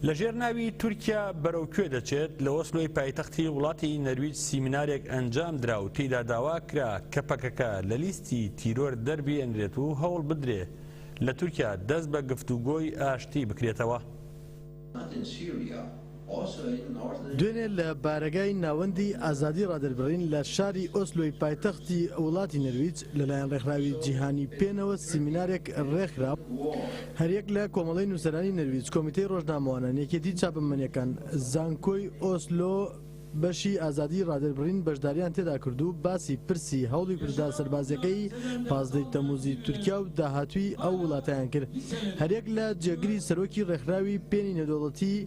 لەژێر ناوی تورکیا بەرەو کوێ دەچێت، لە ئۆسلۆی پایتەختی وڵاتی نەرویج سیمینارێک ئەنجامدرا و تێیدا داواکرا کە پەکەکە لە لیستی تیرۆر دەربهێنرێت و هەوڵبدرێ لە تورکیا دەست بە گفتوگۆی ئاشتی بکرێتەوە. دوێنێ لە بارەگای ناوەندی ئازادی ڕادەربڕین لە شاری ئۆسلۆی پایتەختی وڵاتی نەرویج لەلایەن ڕێکخراوی جیهانی پێنەوە سیمینارێک ڕێکخرا، هەریەک لە کۆمەڵەی نووسەرانی نەرویج، کۆمیتەی ڕۆژنامەوانان، یەکێتی چاپەمەنییەکان، زانکۆی ئۆسلۆ بەشی ئازادیی ڕادەربڕین بەشدارییان تێدا کرد و باسی پرسی هەوڵی کوردە سەربازییەکەی پازدەی تەمووزی تورکیا و داهاتووی ئەو وڵاتەیان کرد. هەریەک لە جێگری سەرۆکی ڕێکخراوی پێنی نێودەوڵەتیی،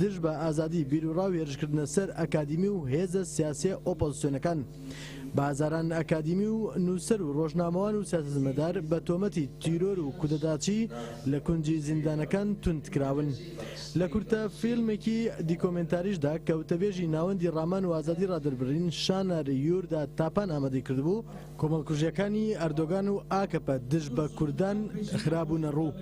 دژ بە ئازادی بیروڕاو هێرشکردنە سەر ئەکادیمی و هێزە سیاسیە ئۆپۆزسیۆنەکان، بە هەزاران ئەکادیمی و نووسەر و ڕۆژنامەوان و سیاسەتمەدار بە تۆمەتی تیرۆر و کودەتاچی لە کونجی زیندانەکان توند کراون. لە کورتە فیلمێکی دیکۆمێنتاریشدا کە وتەبێژی ناوەندی ڕامان و ئازادی ڕادەربڕین شانار یوردا تاپان ئامادەی کردبوو، کۆمەڵکوژیەکانی ئەردۆگان و ئاکەپە دژ بە کوردان خرابوونە ڕوو.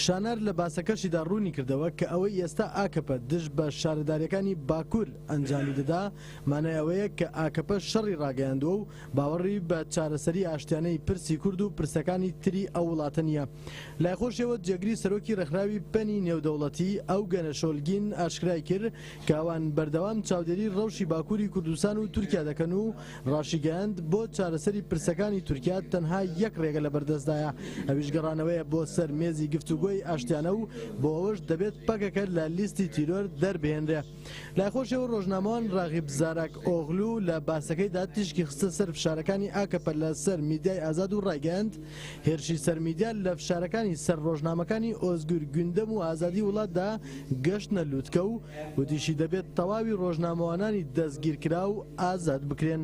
شانار لە باسەکەشیدا ڕوونی کردەوە کە ئەوەی ئێستا ئاکەپە دژ بە شارەداریەکانی باکور ئەنجامی دەدا مانای ئەوەیە کە ئاکەپە شەڕی ڕاگەیاندووە و باوەڕی بە چارەسەری ئاشتیانەی پرسی کورد و پرسەکانی تری ئەو وڵاتە نیە. لای خۆشیەوە جێگری سەرۆکی ڕێکخراوی پەنی نێودەوڵەتی، ئەوگەنە شۆلگین ئاشکرای کرد کە ئەوان بەردەوام چاودێری ڕەوشی باکوری کوردستان و تورکیا دەکەن و ڕاشیگەیاند، بۆ چارەسەری پرسەکانی تورکیا تەنها یەک ڕێگە لەبەردەستدایە، ئەویش گەڕانەوەیە بۆ سەر مێزی گفتوگۆی ئاشتیانە و بۆ ئەوەش دەبێت پەکەکە لە لیستی تیرۆر دەربهێنرێ. لای خۆشیەوە ڕۆژنامەوان ڕاغیب زاراک ئۆغلو لە باسەکەیدا تیشکی خستە سەر فشارەکانی ئاکەپە لە سەر میدیای ئازاد و ڕایگەیاند، هێرشی سەر میدیا لە فشارەکانی سەر ڕۆژنامەکانی ئۆزگور گوندەم و ئازادی وڵاتدا گەشتنە لوتکە و وتیشی دەبێت تەواوی ڕۆژنامەوانانی دەستگیرکراو ئازاد بکرێن.